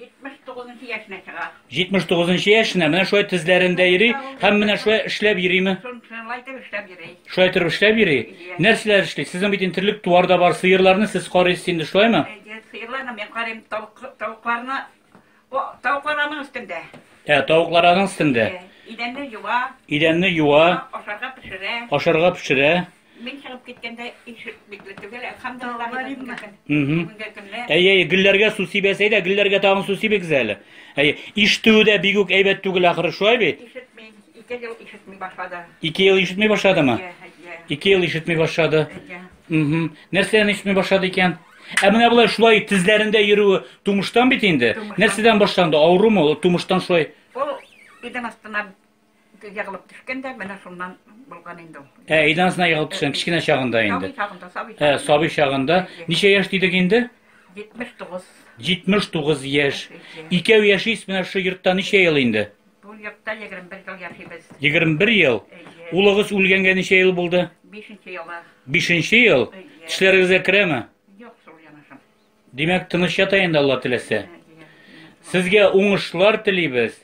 79 нчы яшенә чыга. 79 нчы яшенә менә шулай тезләрендә йөри һәм менә шулай эшләп йөриме? Шулай итеп эшләп йөри. Шулай итеп эшләп йөри. Нәрсәләр эшли? Сезнең бит интерлек туар да бар, сыерларны сез карыйсыз инде, шулаймы? Сыерларны мин карыйм, тавыкларны тавыклар аның өстендә. Ә, тавыклар аның өстендә. Идәнне юа. Идәнне юа. Ашарга пешерә. Ашарга пешерә. Мин чыгып киткәндә ишек бикле түгел, әлхәмдулилла дип Галимме? киткән. Мгм. Бүгенге көнне Әйе, әйе, гөлләргә су сибәс, әйдә, гөлләргә тагын су сибегез әле. Әйе, ишетүе дә бигүк әйбәт түгел ахры, шулай бит? ишетми, ике ел ишетми башлады. Ике ел ишетми башладымы? Әйе, әйе, Ике ел ишетми башлады. әйе. Мгм. Нәрсәдән ишетми башлады икән? Ә менә болай шулай тезләрендә йөрүе тумыштан бит инде. Тумыштан. Нәрсәдән башланды? Авырумы? Ул Тумыштан шулай. Ул идем астына Егылып төшкән дә, менә шуннан булган инде ул. Ә, өйдән астына егылып төшкән, кечкенә чагында инде. Сабый чагында, сабый чагында. Ә, сабый чагында. Ничә яшь дидек инде? 79. 79 яшь. Икәү яшис менә шушы йортта ничә ел инде? Бу йортта 21 ел яшибез. 21 ел. Улыгыз үлгәнгә ничә ел булды? 5 нче елы. 5 нче ел. Тешләрегезгә керәме? Юк, шул янашым. Димәк, тыныч ята инде Алла теләсә. Сезгә уңышлар телибез.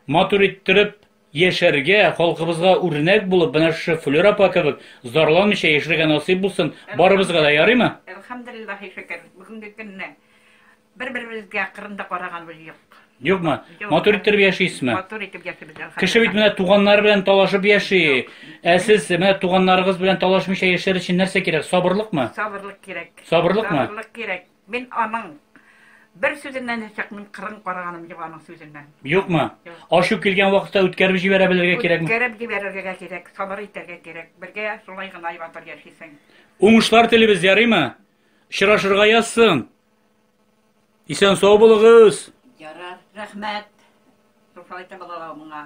Матур иттереп яшәргә, халкыбызга үрнәк булып, менә шушы Флюр апа кебек зарланмыйча яшәргә насыйп булсын барыбызга да, ярыймы? Әлхәмдулиллаһи шөкер, бүгенге көнне бер-беребезгә кырында караганыбыз юк. Юкмы? Матур иттереп яшисезме? Матур итеп яшибез, әлхәмдулиллаһ. Кеше бит менә туганнары белән талашып яши. Ә сез менә туганнарыгыз белән талашмыйча яшәр өчен нәрсә кирәк? Сабырлыкмы? Сабырлык кирәк. Сабырлыкмы? Сабырлык кирәк. Мин аның бер сүзеннән дә чыкмыйм, кырын караганым юк аның сүзеннән. Юкмы? Юк. Ачу килгән вакытта үткәреп җибәрә белергә кирәкме? Үткәреп җибәрергә гә кирәк, сабыр итәргә кирәк. Бергә шулай гына и батыр яшисең. Уңышлар телибез, ярыймы? Очрашырга язсын. Исән сау булыгыз! Ярар, рәхмәт! Шулай да балалар моңа.